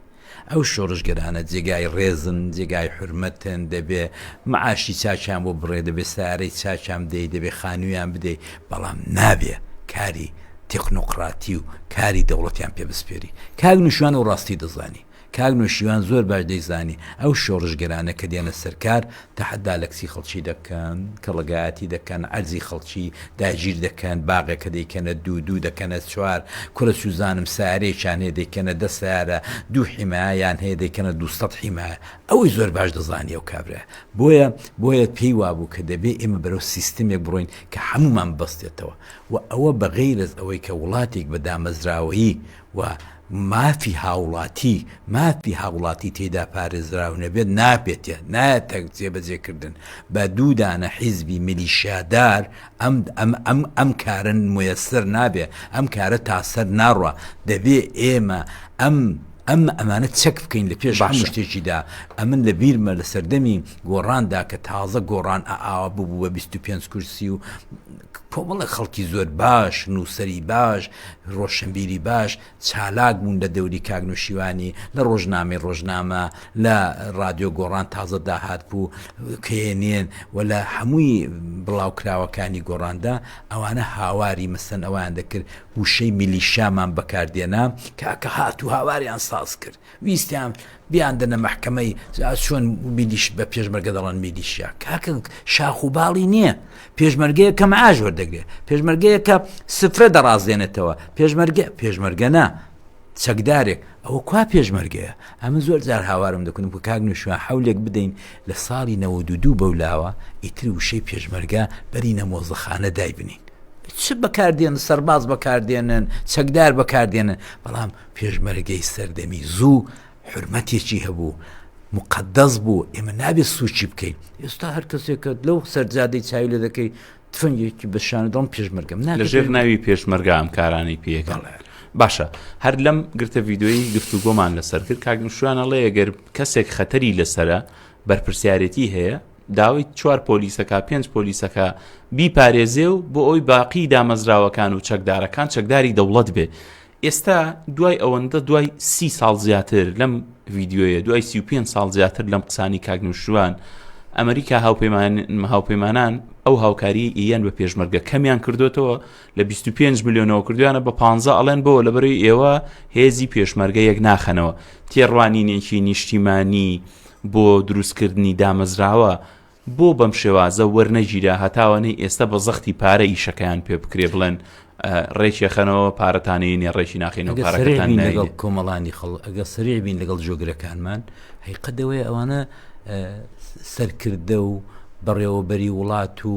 ئەو شۆڕژگەرانە جێگای ڕێزن جێگای حرمەتن دەبێ معاشی چاچیان بۆ بڕێ دەبێ سارەی چاچام دەی دەبێ خانوویان بدەیت بەڵام نابێ کاری تەکنۆقراتی و کاری دەوڵەتیان پێ بسپێری کاک نوشوان و ڕاستی دەزانی کاک نۆشیروان زۆر باش دەیزانی ئەو شۆڕشگێرانە کە دێنە سەر کار تەحەدا لە کچی خەڵکی دەکەن، کەڵەگایەتی دەکەن، عەرزی خەڵکی داگیر دەکەن، باغێکە دەیکەنە دوو، دوو دەکەنە چوار، کورە چوزانم سەیارەیەکیان هەیە دەیکەنە دە سەیارە، دوو حیمایە یان هەیە دەیکەنە دوو سەد حیمایە، ئەوەی زۆر باش دەزانی ئەو کابرایە، بۆیە بۆیە پێی وابوو کە دەبێ ئێمە بەرەو سیستمێک بڕۆین کە حەمومان ببەستێتەوە و ئەوە بە غەیرەز ئەوەی کە وڵاتێک بە دامەزراوەیی و مافی هاوڵاتی مافی هاوڵاتی تێدا پارێزراو نەبێت نابێتە نایەتە جێبەجێکردن بە دوو دانە حیزبی میلیشیادار ئەم ئەم ئەم ئەم کارە مەیسەر نابێ ئەم کارە تا سەر ناڕوا دەبێ ئێمە ئەم ئەم ئەمانە چەک بکەین لە پێش هەموو شتێکیدا ئەمن لە بیرمە لە سەردەمی گۆڕاندا کە تازە گۆڕان ئاوا ببوو بە 25 کورسی و کۆمەڵێک خەڵکی زۆر باش، نووسەری باش، ڕۆشنبیری باش چالاک بوون لە دەوری کاک نووشیوانی لە ڕۆژنامەی ڕۆژنامە لە ڕادیۆ گۆڕان تازە داهات بوو کێنێن و لە هەمووی بڵاوکراوەکانی گۆڕاندا ئەوانە هاواری مەسەن ئەوان دەکرد وشەی میلیشامان بەکاردێنا کاکە هات و هاواریان ساز کرد ویستیان بیاندنە مەحکەمەی ئاز چۆن میلیش بە پێشمەرگە دەڵێن میلیشیا کاکە شاخ و باڵی نییە پێشمەرگەیە کە مەعاش وەردەگرێت پێشمەرگەیە کە سفرە دەڕازێنێتەوە پێشمەرگە پێشمەرگەنا چەکدارێک ئەوە کوا پێشمەرگەیە ئەمە زۆر جار هاوارم دەکنم کە کاک نوشوە حولێک بدەین لە ساڵی نەوە دو دوو بەولاوە ئیتر وشەی پێشمەرگە بەری نەمۆزەخانە دایبنین چ بەکاردێن سەرباز بەکاردێنن چەکدار بەکاردێنن بەڵام پێشمەرگەی سەردەمی زوو حورمەتێکی هەبوو، موقەدەس بوو، ئێمە نابێت سووکی بکەین، ئێستا هەر کەسێک کە لەو سەرجادەی چاوی لێ دەکەی تفەنگێکی بە شانە دەڵم پێشمەرگەم نا لە ژێر ناوی پێشمەرگە ئەم کارانەی پێکەڵ باشە هەر لەم گرتە ڤیددیۆی گفتوگۆمان لەسەر کرد کاگمشوانە ڵێ گەر کەسێک خەتەری لەسرە بەرپرسیارەتی هەیە داوای چوار پۆلیسەکە پێنج پۆلیسەکە بیپارێزێ و بۆ ئەوی باقی دامەزراوەکان و چەکدارەکان چەکداری دەوڵەت بێ ئێستا دوای ئەوەندە دوای سی ساڵ زیاتر لەم ڤیددیویە دوای سی و پێنج ساڵ زیاتر لەم قسانی کاکنوشتوان ئەمریکا هاوپەیمان هاوپەیمانان ئەو هاوکاری ئیان بە پێشمەرگە کەمیان کردوێتەوە لە 25 میلیۆنەوە کردویانە بە 15 ئەڵێن بۆ لە بەروی ئێوە هێزی پێشمەرگە یەک ناخەنەوە تێڕوانینێکی نیشتیمانی بۆ دروستکردنی دامەزراوە بۆ بەم شێوازە وەرنەگیرا هەتاوەنەی ئێستە بە زەختی پارە ئیشەکەیان پێ بکرێ بڵێن ڕێکێ خەنەوە پارەتانەی نێ ڕێکی ناخینەوە پارەکەتان لەگەڵ کۆمەڵانی خەڵ ئەگە سرێ بین لەگەڵ جۆگرەکانمان هەیقەدەوەی ئەوانە سەرکردە و بەڕێوەبەری وڵات و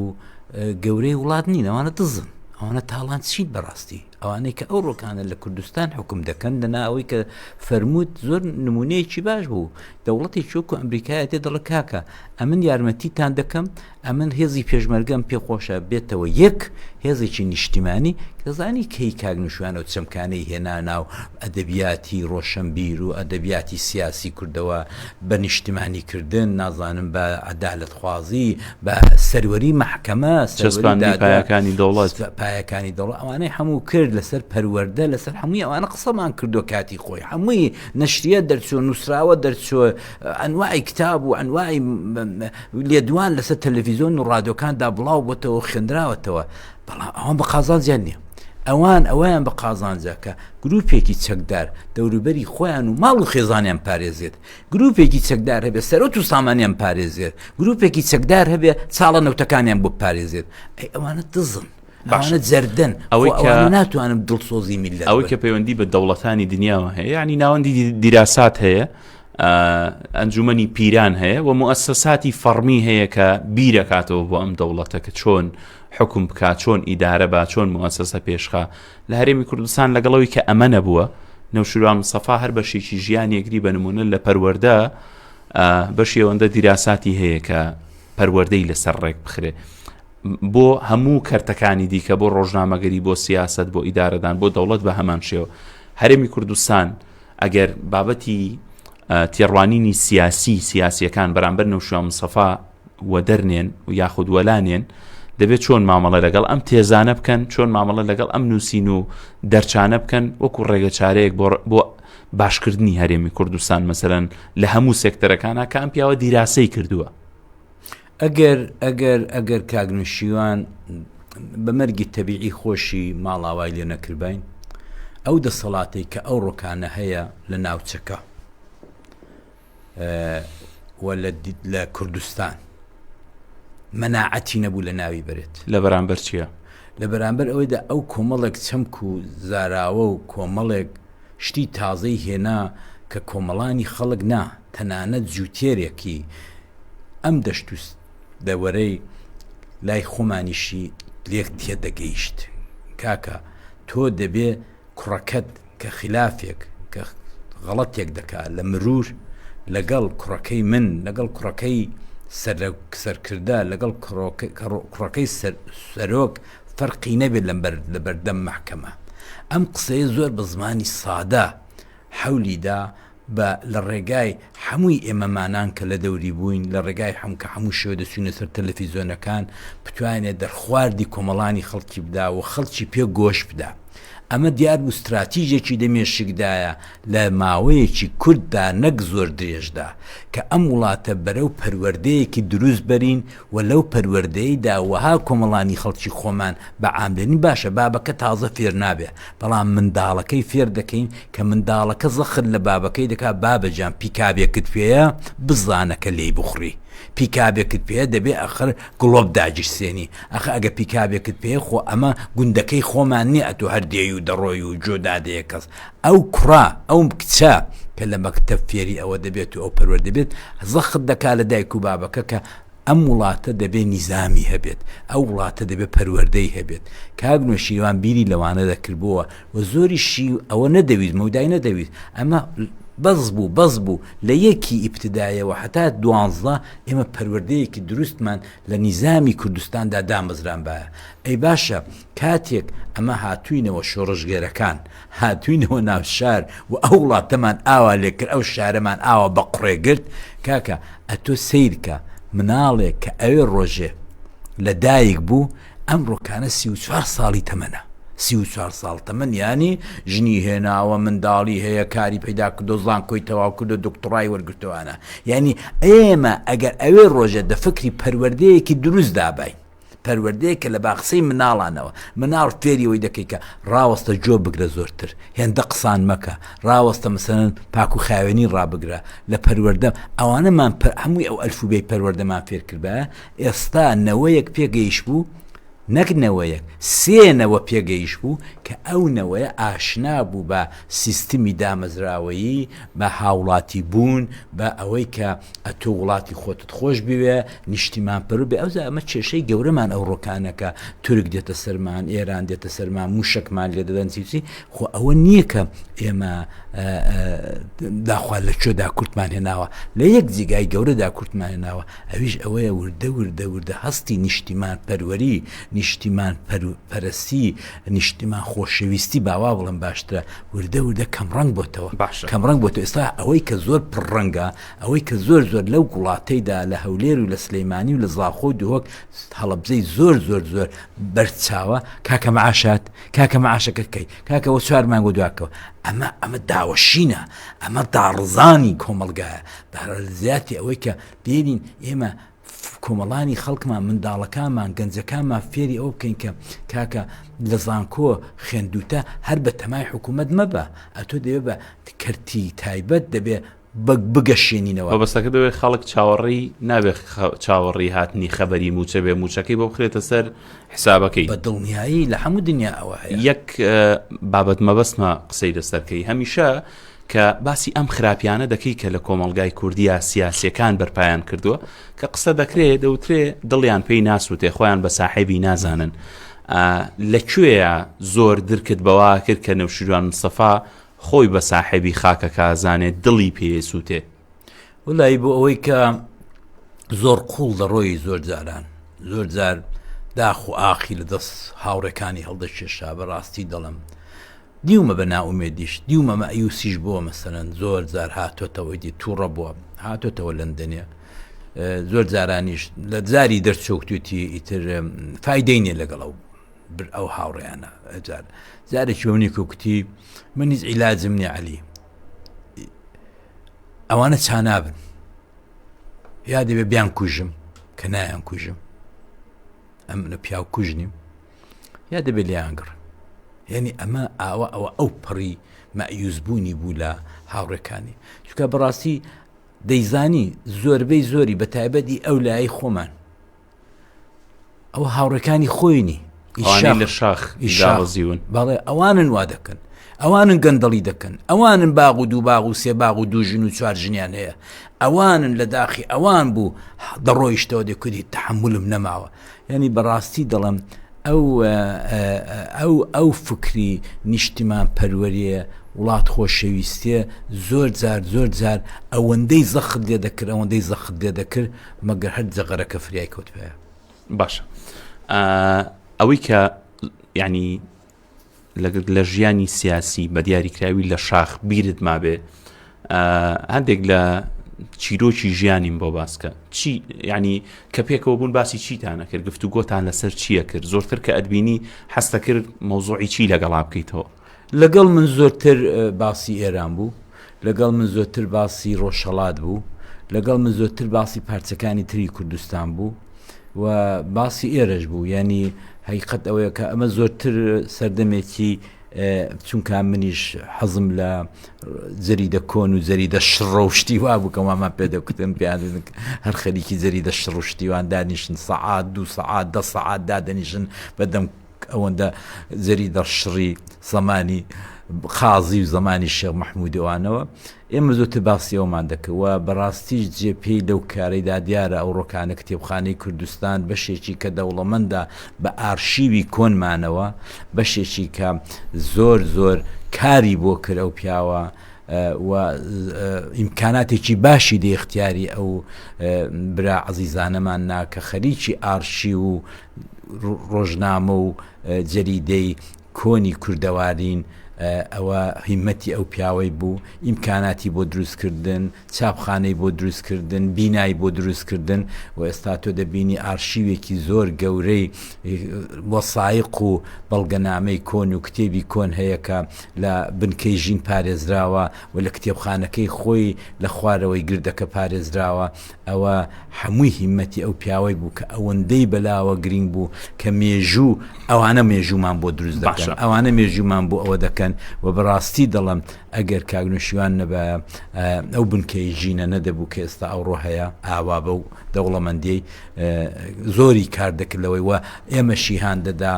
گەورەی وڵات نین ئەوانە دزن ئەوانە تاڵان چیت بەڕاستی ئەوانەی کە ئەو ڕۆکانە لە کوردستان حکوم دەکەن دەنا ئەوەی کە فەرمووت زۆر نمونەیەکی باش بوو دەوڵەتێکی وەکو ئەمریکایە دێت دەڵێت کاکە ئەمن یارمەتیتان دەکەم، ئەمن هێزی پێشمەرگەم پێ خۆشە بێتەوە یەک هێزێکی نیشتیمانی، دەزانی کەی کاک نوشیروان ئەو چەمکانەی هێنا ناو ئەدەبیاتی ڕۆشەنبیر و ئەدەبیاتی سیاسی کوردەوە بە نیشتیمانی کردن نازانم بە عەدالەت خوازی بە سەروەری مەحکەمە سەروەری دادگا چەسپاندنی پایەکانی دەوڵەت ئەوانەی هەموو کرد لەسەر پەروەردە لەسەر هەمووی ئەوانە قسەمان کردوە کاتی خۆی هەمووی نەشریە دەرچووە، نووسراوە دەرچووە، ئەنواعی کتاب و ئەنواعی لێدوان لەسەر تەلەڤیزۆن و ڕادۆکاندا بڵاو بۆتەوە و خوێنراوەتەوە بەڵام ئەوان بە قازانجیان نییە. ئەوان ئەویان بە قازانجە کە گروپێکی چەکدار دەوروبەری خۆیان و ماڵ و خێزانیان پارێزێت گروپێکی چەکدار هەبێ سەرۆت و سامانیان پارێزێت گروپێکی چەکدار هەبێ چاڵە نەوتەکانیان بۆ پارێزێت ئەی ئەوانە دزن باشە ئەوانە جەردەن ئەوەی کە ئەوانە ناتوانن دڵسۆزی میلەت ئەوەی کە پەیوەندی بە دەوڵەتانی دنیاوە هەیە ینی ناوەندی دیراسات هەیە ئەنجومنی پیران هەیە و موسساتی فەرمی هەیە کە بیرەکاتەوە بۆ ئەم دەوڵەتە کە چۆن حکوم بکات چۆن ئیدارە با چۆن موسسە پێشخە لە هەرێمی کوردستان لەگەڵەوەی کە ئەمە نەبووە نەوشروان سەفا هەر بەشێکی ژیان یەکری بە نمونە لە پەروەەردە بەشی ئەوەندە دیراساتی هەیە کە پەروەەردەی لەسەر ڕێک بخرێ بۆ هەموو کەرتەکانی دیکە، بۆ ڕۆژنامەگەری، بۆ سیاسەت، بۆ ئیدارەدان، بۆ دەوڵەت بە هەمان شێوە. هەرێمی کوردستان ئەگەر بابەتی تێڕوانینی سیاسی سیاسیەکان بەرامبەر نەوشیان مسەفا وەدەرنێن و یاخود وەلانێن دەبێت چۆن مامەڵە لەگەڵ ئەم تێزانە بکەن چۆن مامەڵە لەگەڵ ئەم نووسین و دەرچانە بکەن وەکو ڕێگە چارەیەک بۆ باشکردنی هەرێمی کوردستان مەسەرەن لە هەموو سێکتەرەکانە کە ئەم پیاوە دیراسەی کردووە ئەگەر ئەگەر ئەگەر کاک نوشیوان بە مەرگی تەبیعی خۆشی ماڵاوای لێ نەکردباین ئەو دەسەڵاتەی کە ئەو ڕۆکانە هەیە لە ناوچەکە لە کوردستان مەناعەتی نەبوو لە ناوی بێت لە بەرامبەر چییە؟ لە بەرامبەر ئەوەیدا ئەو کۆمەڵێک چەمک و زاراوە و کۆمەڵێک شتی تازەی هێنا کە کۆمەڵانی خەڵک نا تەنانەت جووتێرێکی ئەم دەشت و دەوەرەی لای خۆمانیشی لێک تێدەگەیشت، کاکە تۆ دەبێ کوڕەکەت کە خیلافێک، کە غەڵەتێک دەکا لە مرور، لەگەڵ کوڕەکەی من، لەگەڵ کوڕەکەی سەرکردە، لەگەڵ کوڕەکەی سەرۆک فەرقی نەبێ لە بەردەم مەحکەمە. ئەم قسەیە زۆر بە زمانی سادە حەولی دا، با لە ڕێگای هەمووی ئێمەمانان کە لە دەوری بووین، لە ڕێگای هەموو کە هەموو شەوێ دەچووینە سەر تەلەفیزۆنەکان، بتوانێ دەرخواردی کۆمەڵانی خەڵکی بدا و خەڵکی پێ گۆش بدا. ئەمە دیار بوو ستراتیژێکی لە مێشکدایە لە ماوەیەکی کورتدا نەک زۆر درێژدا کە ئەم وڵاتە بەرەو پەروەردەیەکی دروست بەرین، وە لەو پەروەردەی دا وەها کۆمەڵانی خەڵکی خۆمان بە عام دەنین باشە بابەکە تازە فێر نابێ بەڵام منداڵەکەی فێر دەکەین کە منداڵەکە زەخت لە بابەکەی دەکا بابە جان پیکابێکت پێیە بزانە کە لێی بخوری پیکابێکت پێیە دەبێ ئەخر گڵۆپ داگیرسێنی ئەخە ئەگە پیکابێکت پێیە خۆ ئەمە گوندەکەی خۆمان نیە ئەتۆ هەر دێی و دەڕۆی و جۆ دادەیە کەس ئەو کوڕە ئەو کچە کە لە مەکتەب فێری ئەوە دەبێت و ئەو پەروەردە بێت زەخت دەکا لە دایک و بابەکە کە ئەم وڵاتە دەبێ نیزامی هەبێت، ئەو وڵاتە دەبێ پەروەردەی هەبێت. کاک نۆشیروان بیری لەوانە دەکردبۆوە و زۆریشی ئەوە نەدەویست، مەودای نەدەویست. ئەمە بەس بوو، بەس بوو. لە یەکی ئیبتدایەوە هەتا دوانزدە ئێمە پەروەردەیەکی دروستمان لە نیزامی کوردستاندا دامەزرانبایە. ئەی باشە کاتێک ئەمە هاتووینەوە شۆڕشگێرەکان، هاتوینەوە ناو شار و ئەو وڵاتەمان ئاوا لێ کرد ئەو شارەمان ئاوا بە قوڕێ گرت کاکە ئەتۆ سەیرکە مناڵێک کە ئەوێ ڕۆژێ لە دایک بوو ئەم ڕۆکانە سی و چوار ساڵی تەمەە سی و چوار ساڵ تەمەن ینی ژنی هێناوە منداڵی هەیە کاری پیدا کردو زان کۆی تەواو کردو دکتڕای وەرگتوانە ینی ئێمە ئەگەر ئەوێ ڕۆژێ دە فکری پەروەردەیەکی دروست دابین پەروەردەیە کە لە باقسەی مناڵانەوە مناڵ فێری ئەوەی دەکەی کە ڕاوەستە جۆ بگرە زۆرتر هێندە قسان مەکە ڕاوەستە مەسەلەن پاک و خاوێنی ڕابگرە لە پەروەردە ئەوانەمان پە هەمووی ئەو ئەلفوبێی پەروەردەمان فێر کردبایە ئێستا نەوەیەک پێگەیش بوو نەک نەوەیەک سێ نەوە پێگەیش بوو کە ئەو نەوەیە ئاشنا بوو بە سیستمی دامەزراوەیی بە هاوڵاتی بوون بە ئەوەی کە ئەتۆ وڵاتی خۆتت خۆش بوێ نیشتیمانپەروەر بێ، ئەوجا ئەمە کێشەی گەورەمان ئەوڕۆ کانە کە تورک دێتە سەرمان، ئێران دێتە سەرمان، مووشەکمان لێ دەدەن چی چی، خۆ ئەوە نییە کە ئێمە داخوا لە کوێدا کورتمان هێناوە، لە یەک جێگای گەورەدا کورتمان هێناوە، ئەویش ئەوەیە وردە وردە وردە هەستی نیشتیمانپەروەری، نیشتیمانپەرەستی، نیشتیمان خۆشەویستی با وا بڵێم باشترە، وردە وردە کەمڕەنگ بۆتەوە، کەمڕەنگ بۆتەوە، ئێستا ئەوەی کە زۆر پڕڕەنگە، ئەوەی کە زۆر زۆر لەو گوڵاتەی دا لە هەولێر و لە سلیمانی و لە زاخۆ و دهۆک هەڵەبجەی زۆر زۆر زۆر بەرد چاوە کاکە معاشات کاکە معاشەکە کەی کاکە وە چوار مانگۆ دواکەوە ئەمە ئەمە داوەشینە ئەمە داڕزانی کۆمەلگایە بەرە زیاتی ئەوەی کە دێنین ئێمە کۆمەڵانی خەڵکمان منداڵەکانمان گەنجەکانمان فێری ئەو بکەین کە کاکە لە زانکۆ خوێندوتە هەر بە تەمای حکوومەت مەبە ئەتۆ دەوێ بە کەرتی تایبەت دەبێ بگەشێنینەوە. مەبەستەکە دەبێت خەڵک چاوەڕێی نابێت چاوەڕێی هاتنی خەبەری مووچە بێ مووچەکەی بۆ بخرێتە سەر حسابەکەی بە دڵنیایی لە هەموو دنیا ئەوە یەک بابەت مەبەستمە قسەی لەسەرکەی هەمیشە کە باسی ئەم خراپیانە دەکەی کە لە کۆمەلگای کوردیا سیاسەکان بەرپایان کردووە کە قسە دەکرێت دەوترێ دڵیان پێی ناسووتێ خۆیان بە ساحێبی نازانن لەکوێە زۆر درکت بەوا کرد کە نەوشیروان مسەفا خۆی بە ساحێبی خاکەکە زانێ دڵی پێیە سووتێ. وەلایی بۆ ئەوەی کە زۆر قوڵ دەڕۆی زۆر جاران زۆر جار داخ و ئاخی لە دەست هاوڕێکانی هەڵدەکێشا بەڕاستی دەڵم دیومە بە ناومێدیش دیومە مەئیوسیش بۆ مەسەرەن زۆر جار هاتۆتەوەی دی تووڕە بووە هاتۆتەوە لەندەنێ زۆر جارانیش لە جاری دەرچوکتوتی ئیتر فیدەینێ لەگەڵەوە بر ئەو هاوڕێیانە ئەجار جارێکی بە منی کوکتی من هیچ عیلاجم نیە علی ئەوانە چانابن یا دەبێ بیان کوژم کە نایان کوژم ئەم لە پیاو کوژ نیم یا دەبێت لیانگڕ یعنی ئەمە ئاوا ئەوە ئەو پەڕی مەعیوزبوونی بوو لە هاوڕەکانی چکە بەڕاستی دەیزانی زۆربەی زۆری بە تایبەتی ئەو لای خۆمان ئەو هاوڕەکانی خۆینی لە شاخ ئیشاڕزیون بەڵێ ئەوانن وا دەکەن ئەوانن گەندەڵی دەکەن ئەوانن باغ و دوو باغ و سێ باغ و دوو ژن و چوار ژنیان هەیە ئەوانن لە داخی ئەوان بوو دەڕۆیشتەوە دەکردی تحملم نەماوە ینی بەڕاستی دەڵم ئەو ئەو ئەو فکری نیشتمان پەروەریە وڵات خۆشەویستێ زۆر جار زۆر جار ئەوەندەی زەخت لێ دەکرد ئەوەندەی زەخت لێ دەکرد مەگەر هەر جەغەرەکە فریای کەوتبایە. باشە ئەوەی کە یعنی لەگەر لە ژیانی سیاسی بە دیاریکراوی لە شاخ بیرت مابێ هەندێک لە چیرۆکی ژیانیم بۆ باسکە چی ینی کە پێکەوە بوون باسی چیتانە کرد گفتو گۆتان لەسەر چییە کرد زۆرتر کە ئەدبینی حەستە کرد مەوزوعی چی لەگەڵا بکەیتەوە لەگەڵ من زۆرتر باسی ئێران بوو، لەگەڵ من زۆرتر باسی ڕۆژهەڵات بوو، لەگەڵ من زۆرتر باسی پارچەکانی تری کوردستان بوو و باسی ئێرەش بوو، یانی هەقیقەت ئەوەیە کە ئەمە زۆرتر سەردەمێکی چونکە منیش حەزم لە جەریدە کۆن و جەریدە شڕە و شتی وا بوو کە وامان پێ دەکوتن پێیان دەدن هەر خەریکی جەریدە شڕ و شتیوان دانیشن سەعات دوو سەعات دە سەعات دادەنیشن بەدەم ئەوەندە زەری دەڕشڕی زەمانی قازی و زەمانی شێخ مەحموودی ئەوانەوە ئێمە زۆرتر باسی ئەومان دەکرد و بەڕاستیش جێ پێی لەو کارەیدا دیارە ئەو ڕۆکانە کتێبخانەی کوردستان بەشێکی کە دەوڵەمەندە بە ئارشیوی کۆنمانەوە بەشێکی کە زۆر زۆر کاری بۆ کرد ئەو پیاوە و ئیمکاناتێکی باشی لە اختیاری ئەو برا عزیزانەمان نا کە خەریکی ئارشی و ڕۆژنامە و جەریدەی کۆنی کوردەوارین، ئەوە هیمەتی ئەو پیاوەی بوو، ئیمکاناتی بۆ دروست کردن، چاپخانەی بۆ دروست کردن، بینای بۆ دروست کردن و ئێستا تۆ دەبینی ئارشیوێکی زۆر گەورەی وەسایق و بەڵگەنامەی کۆن و کتێبی کۆن هەیە کە لە بنکەی ژین پارێزراوە و لە کتێبخانەکەی خۆی لە خوارەوەی گردەکە پارێزراوە. ئەوە هەمووی هیمەتی ئەو پیاوەی بوو کە ئەوەندەی بەلاوە گرنگ بوو کە مێژوو ئەوانە مێژوومان بۆ دروست دەکەن ئەوانە مێژوومان بۆ ئەوە دەکەن و بەڕاستی دەڵم ئەگەر کاگنوشیوان نەبە ئەو بنکەی ژینە نەدەبوو کە ئێستا ئەوڕۆ هەیە ئاوا بە و دەوڵەمەندی زۆری کار دەکردەوەی وە ئێمە شیهان دەدا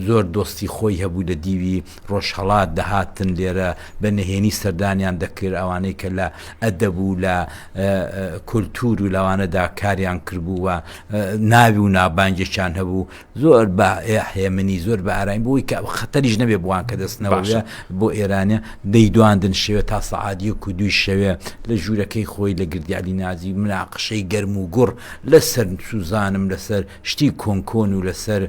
زۆر دۆستی خۆی هەبوو لە دیوی ڕۆژهەڵات دەهاتن لێرە بە نهێنی سەردانیان دەکرد ئەوانەی کە لە ئەدەب و لە کولتوور و لەوانەدا کاریان کردبوو و ناوی و نابانگێکیان هەبوو زۆر بە هێمنی زۆر بە ئاراین بۆی کە خەتەریش نەبێ بووان کە دەستنەوەە بۆ ئێرانە دەیدواندن شێوێ تا سەعادیە و دوی شەوێ لە ژوورەکەی خۆی لە گردیالی نازی مناقشەی گەرم و گوڕ لەسەر سوزانم لەسەر شتی کۆن کۆن و لەسەر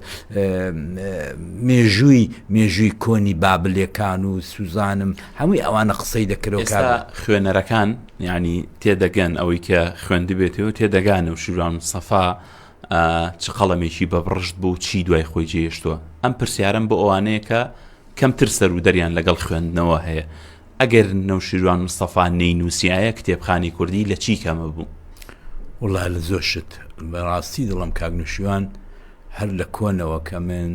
مێژووی مێژووی کۆنی بابلێکان و سوزانم هەمووی ئەوانە قسەی دەکرەوە ئێستا خوێنەرەکان یعنی تێدەگەن ئەوەی کە خوێندبێتەوە تێدەگانە و شوران سەفا چ قەڵەمێکی بەبڕشت بوو چی دوای خۆی جێشتووە ئەم پرسیارم بۆ ئەوانەیە کە کەمتر سەر و دەریان لەگەڵ خوێندنەوە هەیە ئەگەر نەوشیروان مستەفا نەینوسیایە کتێبخانەی کوردی لە چی کەمە بوو؟ وڵا لە زۆر شت بەڕاستی دڵم کاک نوشیوان هەر لە کۆنەوە کە من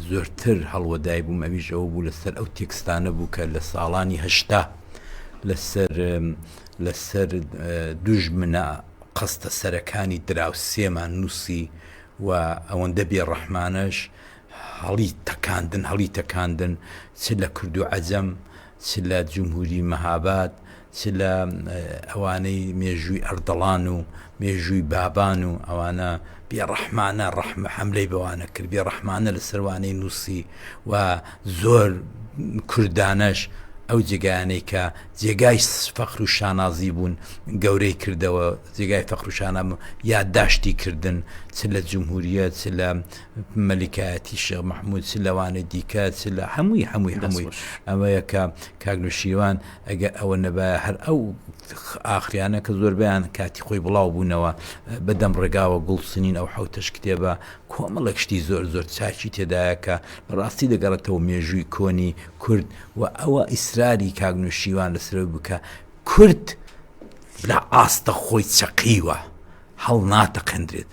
زۆرتر هەڵوەدای بووم ئەویش ئەوە بوو لەسەر ئەو تێکستانە بوو کە لە ساڵانی هەشتا لەسەر لەسەر دوژمنە قەستە سەرەکانی دراوسێمان نووسی و ئەوەندە بێڕەحمانەش هەڵی تەکاندن هەڵی تەکاندن چ لە کورد و عەجەم چ لە جمهوری مەهاباد چ لە ئەوانەی مێژووی ئەردەڵان و مێژووی بابان و ئەوانە بێ ڕەحمانە ڕەحمە حملەی بەوانە کرد بێ ڕەحمانە لە سەروانەی نووسی و زۆر کوردانەش ئەو جێگایانەی کە جێگای فەخر و شانازی بوون گەورەی کردەوە جێگای فەخر و شانام یادداشتی کردن چ لە جمهوریە چ لە مەلیکایەتی شێخ مەحمود چ لەوانەی دیکە چ لە هەمووی هەمووی هەمووی ئەوەیە کە کاک نوشیروان ئەگە ئەوە نەبایە هەر ئەو ئاخریانە کە زۆربیان کاتی خۆی بڵاو بوونەوە بەدەم ڕێگاوە گوڵ سنین ئەو حوتەش کتێبە کۆمەڵێک شتی زۆر زۆر چاکی تێدایە کە بەڕاستی دەگەڕێتەوە مێژووی کۆنی کورد و ئەوە ئیسراری کاک نوشیروان لەسەرەوەی بکە کورد لە ئاستە خۆی چەقیوە هەڵ ناتەقێندرێت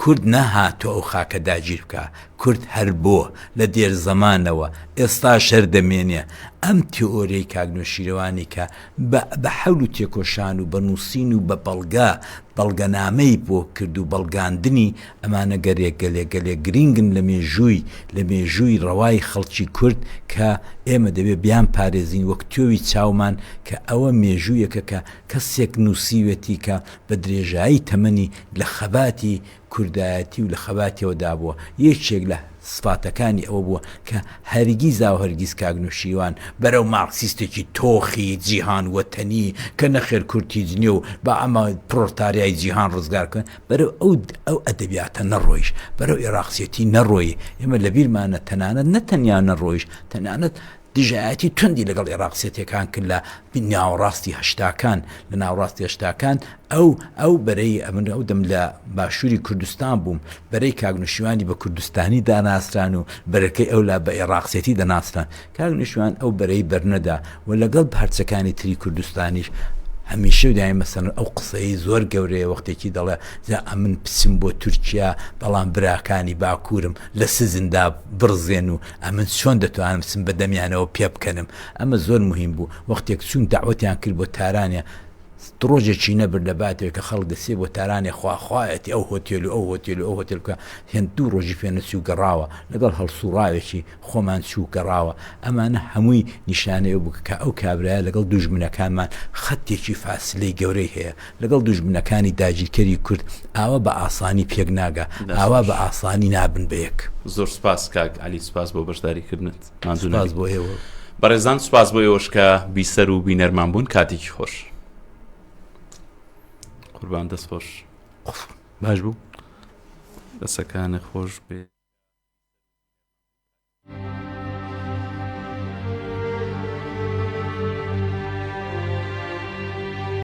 کورد نەهاتوە ئەو خاکە داگیر بکا، کورد هەر بۆ، لە دێر زەمانەوە، ئێستاش هەر دەمێنێ. ئەم تێئۆریەی کاک نەوشیروانی کە بە بە حەول و تێکۆشان و بە نووسین و بە بەڵگە، بەڵگەنامەی بۆ کرد و بەڵگاندنی، ئەمانە گەلێ گەلێ گەلێ گرینگن لە مێژووی لە مێژووی ڕەوای خەڵکی کورد کە ئێمە دەبێ بیان پارێزین وەک تۆوی چاومان کە ئەوە مێژوویەکە کە کەسێک نووسیوێتی کە بە درێژایی تەمەنی لە خەباتی کوردایەتی و لە خەباتیەوە دابووە، یەکێک لە سفاتەکانی ئەوە بووە کە هەرگیزاو هەرگیز کاک نوشیروان بەرەو مارکسیستێکی تۆخی جیهان وەتەنی کە نەخێر کورد هیچ نیە و با ئەمە پرۆلتاریای جیهان ڕزگار بکەن بەرەو ئەو ئەو ئەدەبیاتە نەڕۆیش، بەرەو ئێراقچێتی نەڕۆی، ئێمە لە بیرمانە تەنانەت نە تەنیا نەڕۆیش تەنانەت دژایەتی توندی لەگەڵ ئێڕاق سێتیەکان کرد لە ناوەڕاستی هەشتاکان لە ناوەڕاستی هەشتاکان ئەو ئەو بەرەی ئەمن ئەو دەم لە باشووری کوردستان بووم بەرەی کاک نوشیوانی بە کوردستانی داناسران و بەرەکەی ئەو لا بە ئێڕاق سێتی دەناسران کاک نوشیوان ئەو بەرەی بەرنەدا و لەگەڵ پارچەکانی تری کوردستانیش هەمیشە و دایمە سەن ئەو قسەی زۆر گەورەیە وەختێکی دەڵێ جا ئەمن پچم بۆ تورکیا بەڵام براکانی باکوورم لە سزندا بڕزێن و ئەمن چۆن دەتوانم بچم بە دەمیانەوە پێبکەنم ئەمە زۆر موهیم بوو وەختێک چووم دەعوەتیان کرد بۆ تارانێ ڕۆژێکی نەبرد لە باتەوەی کە خەڵک دەسێ بۆ تارانێ خواخوایەتی ئەو هۆتێل و ئەو هۆتێل و ئەو هۆتێل بکە هێند دوو ڕۆژی پێ نەچوو گەڕاوە لەگەڵ هەڵسوڕاوێکی خۆمان چوو گەڕاوە ئەمانە هەمووی نیشانەیە بوو کە ئەو کابرایە لەگەڵ دوژمنەکانمان خەتێکی فاسلەی گەورەی هەیە لەگەڵ دوژمنەکانی داگیرکەری کورد ئاوا بە ئاسانی پێک ناگا ئاوا بە ئاسانی نابن بە یەک. زۆر سوپاس کاک عەلی سوپاس بۆ بەشداری کردنت ماندوو نەبی. سوپاس بۆ ئێوە. بەڕێزان سوپاس بۆ ئێوەش کە بیسەر و بینەرمان بوون کاتێکی خۆش. قوربان دەست خۆش. باش بوو. دەسەکانت خۆش بێ.